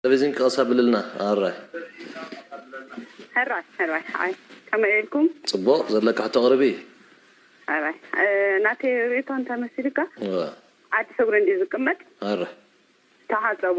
ተለቪዝን ክቐስ ኣብልልና ኣራይ። ሕራይ ሕራይ ሓይ ከመይ ኢልኩም? ጽቡቕ ዘለኪ ሕቶ ኣቕርቢ። ሕራይ ናተይ ርእይቶ እንተመሲሉካ እወ ዓዲ ሕጉሪ እንድዩ ዝቅመጥ። ኣራይ። ተሓጸቡ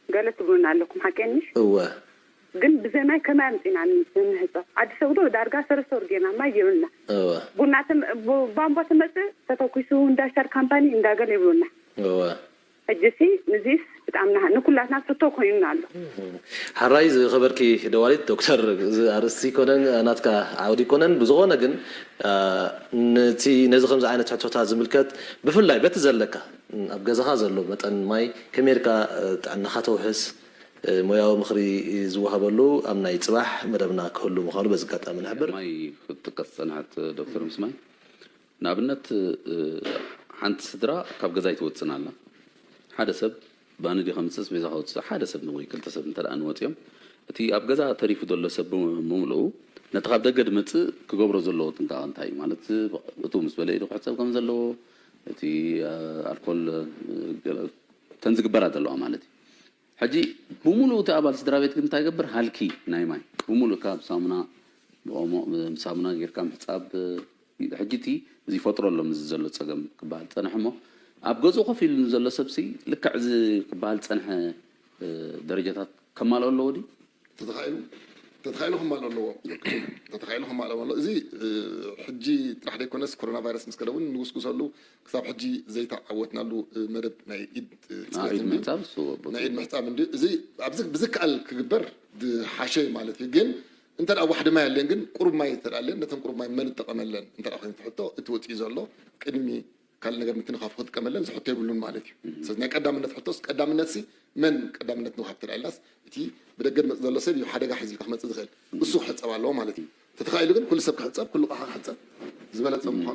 ገለ ትብሉና ኣለኩም ሓቀይ ምሽ? እወ። ግን ብዘማይ ከመይ ኣምጺና ንሕጸብ ዓዲ ሰግዶ ዳርጋ ሰረሰር ጌርና ማይ የብልና። እወ። ቡና ቧንቧ ትመጽእ ተተኩሱ እንዳ ሻር ካምፓኒ እንዳ ገለ ይብሉና። እወ። ሕጂሲ ንዚስ ብጣምና ንኩላትና ፍቶ ኮይኑና ኣሎ። ሐራይ ዝከበርኪ ደዋሊት ዶክተር እዚ ኣርእስቲ ኮነን ናትካ ዓውዲ ኮነን ብዝኮነ ግን ንቲ ነዚ ከምዚ ዓይነት ሕቶታት ዝምልከት ብፍላይ በቲ ዘለካ ኣብ ገዛኻ ዘሎ መጠን ማይ ከመይ ጌርካ ጥዕናኻ ተውሕስ ሞያዊ ምኽሪ ዝወሃበሉ ኣብ ናይ ጽባሕ መደብና ክህሉ ምዃኑ በዚ ኣጋጣሚ ንሕብር። ማይ ክትጥቀስ ዝጸንሐት ዶክተር ምስ ማይ ንኣብነት ሓንቲ ስድራ ካብ ገዛ ኣይትወጽእን ኣላ ሓደ ሰብ ባኒ ድዩ ከምጽእ ኣስቤዛ ከውጽእ ሓደ ሰብ ወይ ክልተ ሰብ እንተ እንወጽዮም እቲ ኣብ ገዛ ተሪፉ ዘሎ ሰብ ብምልኡ ነቲ ካብ ደገ ድመጽእ ክገብሮ ዘለዎ ጥንቃቐ እንታይ እዩ ማለት እትው ምስ በለ ኢዱ ክሕጸብ ከም ዘለዎ እቲ ኣልኮል እተን ዝግበራ ዘለዋ ማለት እዩ ሕጂ ብሙሉኡ እቲ ኣባል ስድራቤት ግን እንታይ ገብር ሃልኪ ናይ ማይ ብሙሉእ እካ ብሳሙና ብኦሞ ሳሙና ጌርካ ምሕጻብ ሕጂ እቲ እዚ ይፈጥሮ ኣሎ ምዚ ዘሎ ጸገም ክበሃል ዝጸንሐ እሞ ኣብ ገዝኡ ኮፍ ኢሉ ንዘሎ ሰብሲ ልክዕ እዚ ክበሃል ዝጸንሐ ደረጃታት ከማልኦ ኣለዎ ድዩ ተተኻኢሉ ተተኻኢሉ ክማልእ ኣለዎ ተተኻኢሉ ክማልእ ኣለዎ እዚ ሕጂ ጥራሕ ዘይኮነስ ኮሮና ቫይረስ ምስ ከደ እውን ንጉስጉሰሉ ክሳብ ሕጂ ዘይተዓወትናሉ መደብ ናይ ኢድ ፅሬት ናይ ኢድ ምሕፃብ እንዲ እዚ ኣብዚ ብዝከኣል ክግበር ዝሓሸ እዩ ማለት እዩ ግን እንተ ዋሕዲ ማይ ኣለን ግን ቁሩብ ማይ እንተ ኣለን ነተን ቁሩብ ማይ መን እጠቐመለን እንተ ኮይኑ ትሕቶ እቲ ወፂኡ ዘሎ ቅድሚ ካልእ ነገር ምትንኻፉ ክጥቀመለን ዝሕቶ የብሉን ማለት እዩ ስለዚ ናይ ቀዳምነት ሕቶስ ቀዳምነት ሲ መን ቀዳምነት ንውሃብ ተዳ ኢልናስ እቲ ብደገ ድመፅ ዘሎ ሰብ እዩ ሓደጋ ሒዚልካ ክመፅእ ዝኽእል እሱ ክሕፀብ ኣለዎ ማለት እዩ ተተኻኢሉ ግን ኩሉ ሰብ ክሕፀብ ኩሉ ቕሓ ክሕፀብ ዝበለፀ ምዃኑ